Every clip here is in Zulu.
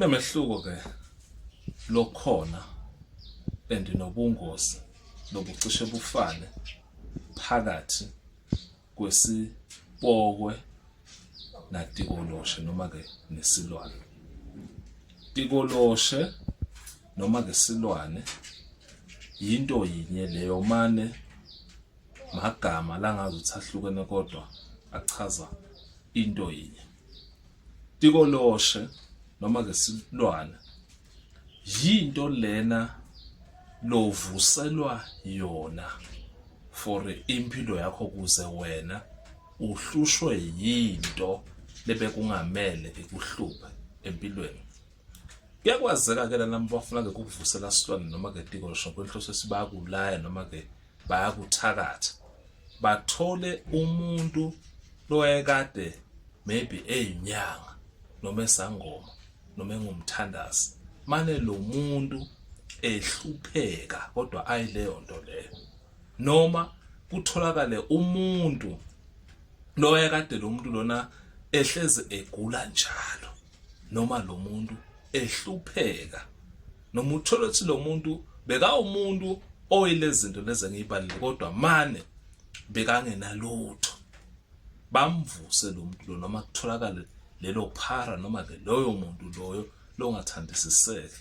Kunemehluko ke lokhona and nobungozi lobucishe bufane phakathi kwesipokwe natikoloshe noma ke nesilwane tikoloshe noma ke silwane yinto yinye leyo mane magama langazi ukuthi ahlukene kodwa achaza into yinye Tikoloshe noma ke silwane yinto lena lovuselwa yona for impilo yakho kuze wena uhlushwe yinto lebe kungamele ikuhluphe empilweni kuyakwazeka ke lana bafuna ke kukuvusela silwane noma ke tikoloshe kwenhloso esibakulaya noma ke bayakuthakatha bathole umuntu loyekade maybe eyinyanga noma esangoma noma engumthandazi mane lo muntu ehlupheka kodwa ayileyo nto leyo noma kutholakale umuntu loyekade lo muntu lona ehlezi egula njalo noma lo muntu ehlupheka noma uthole ukuthi lo muntu bekawumuntu oyilezi zinto lezi engiyibalile kodwa mane bekangenalutho bamvuse lo muntu lo noma kutholakale lelo phara noma ke loyo muntu loyo longathandisiseki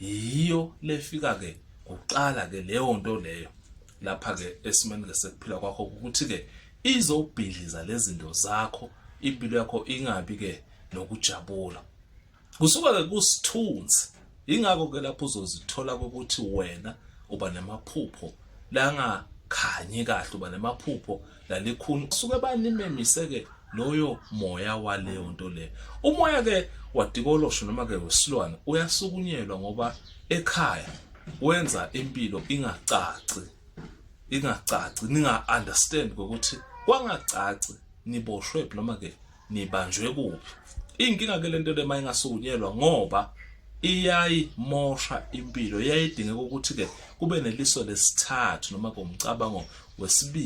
yiyo lefika ke kuqala ke leyo nto leyo lapha ke esimeni ke sekuphila kwakho ukuthi ke izobhidliza lezinto zakho impilo yakho ingabi ke nokujabula kusuka ke kusithunzi ingakho ke lapho uzozithola ukuthi wena uba namaphupho langa khanyi kahle uba nemaphupho lalikhuni suke banimemise ke loyo moya waleyo nto le umoya ke wadikolosho noma ke wesilwane uyasukunyelwa ngoba ekhaya wenza impilo ingacaci ingacaci ninga understand ukuthi kwangacaci niboshwe noma ke nibanjwe kuphi inkinga ke lento le mayingasukunyelwa ngoba iyayimosha impilo iyayidingeka ukuthi ke kube neliso lesithathu noma komcabango wesibili